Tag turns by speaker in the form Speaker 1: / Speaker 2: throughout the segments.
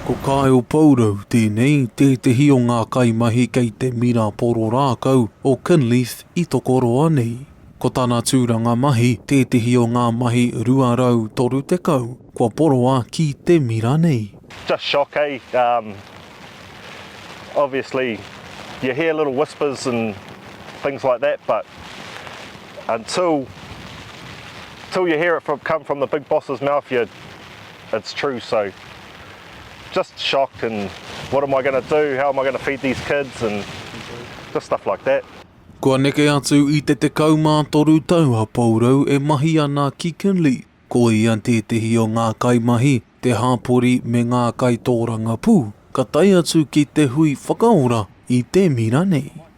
Speaker 1: Ko Kyle Pourou tēnei, tētehi o ngā kaimahi kei te mira poro rākau o Kinleith i Tokoroa nei. Ko tana tūranga mahi tētehi o ngā mahi 230 kua poroa ki te mira nei. Just shock eh
Speaker 2: um obviously you hear little whispers and things like that but until until you hear it come from the big boss's mouth you're It's true so just shocked and what am I going to do, how am I going to feed these kids and just stuff like that. Kua neke
Speaker 1: atu i te 13 tau a Pourou e mahi ana ki Kinley, ko ia tētehi o ngā kaimahi, te hāpori me ngā kaitōrangapū ka tae atu ki te hui whakaora i te mira nei.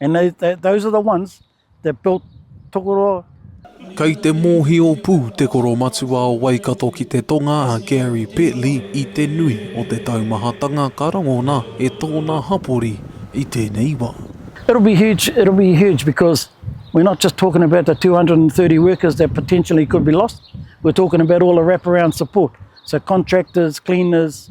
Speaker 3: And they, they, those are the ones that built Tokoroa. Kei te
Speaker 1: mōhio pū te koromatua o Waikato ki te tonga a Gary Petley i te nui o te taumahatanga ka rangona e tōna hapori i tēnei wā. It'll be huge,
Speaker 3: it'll be huge because we're not just talking about the 230 workers that potentially could be lost, we're talking about all the wraparound support, so contractors, cleaners,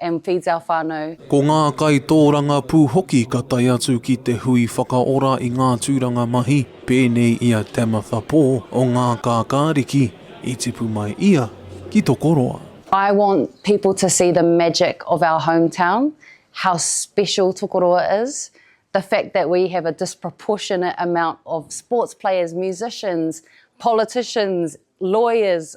Speaker 4: and feeds our whanau. Ko ngā
Speaker 1: kaitōrangapū hoki ka tae atu ki te hui whakaora i ngā tūranga mahi pēnei i a Tamitha Pō o Ngā Kākāriki i tipu mai ia ki Tokoroa. I want
Speaker 4: people to see the magic of our home town, how special Tokoroa is, the fact that we have a disproportionate amount of sports players, musicians, politicians, lawyers,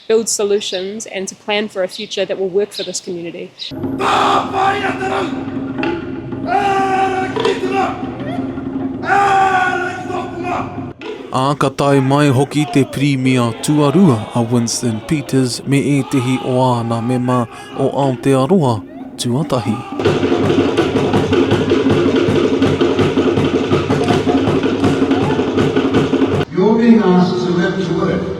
Speaker 5: build solutions and to plan for a future that will work for this community.
Speaker 1: Ā, ka tae mai hoki te Pirimia tuarua a Winston Peters me ētehi o āna mema o Aotearoa tuatahi.
Speaker 6: You're being asked to live to work.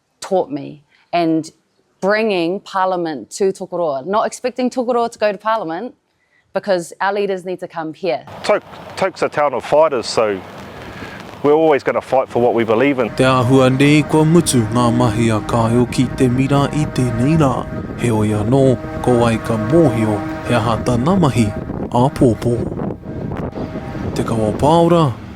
Speaker 4: taught me and bringing parliament to Tokoroa, not expecting Tokoroa to go to parliament because our leaders need to come here. Toke, Toke's a town
Speaker 2: of fighters so we're always going to fight for what we believe in. Te āhua nei
Speaker 1: kua mutu ngā mahi a Kāeo ki te mira i tēnei rā, heoi anō, ko wai ka mōhio he aha tana mahi āpōpō. Te Kawapāora,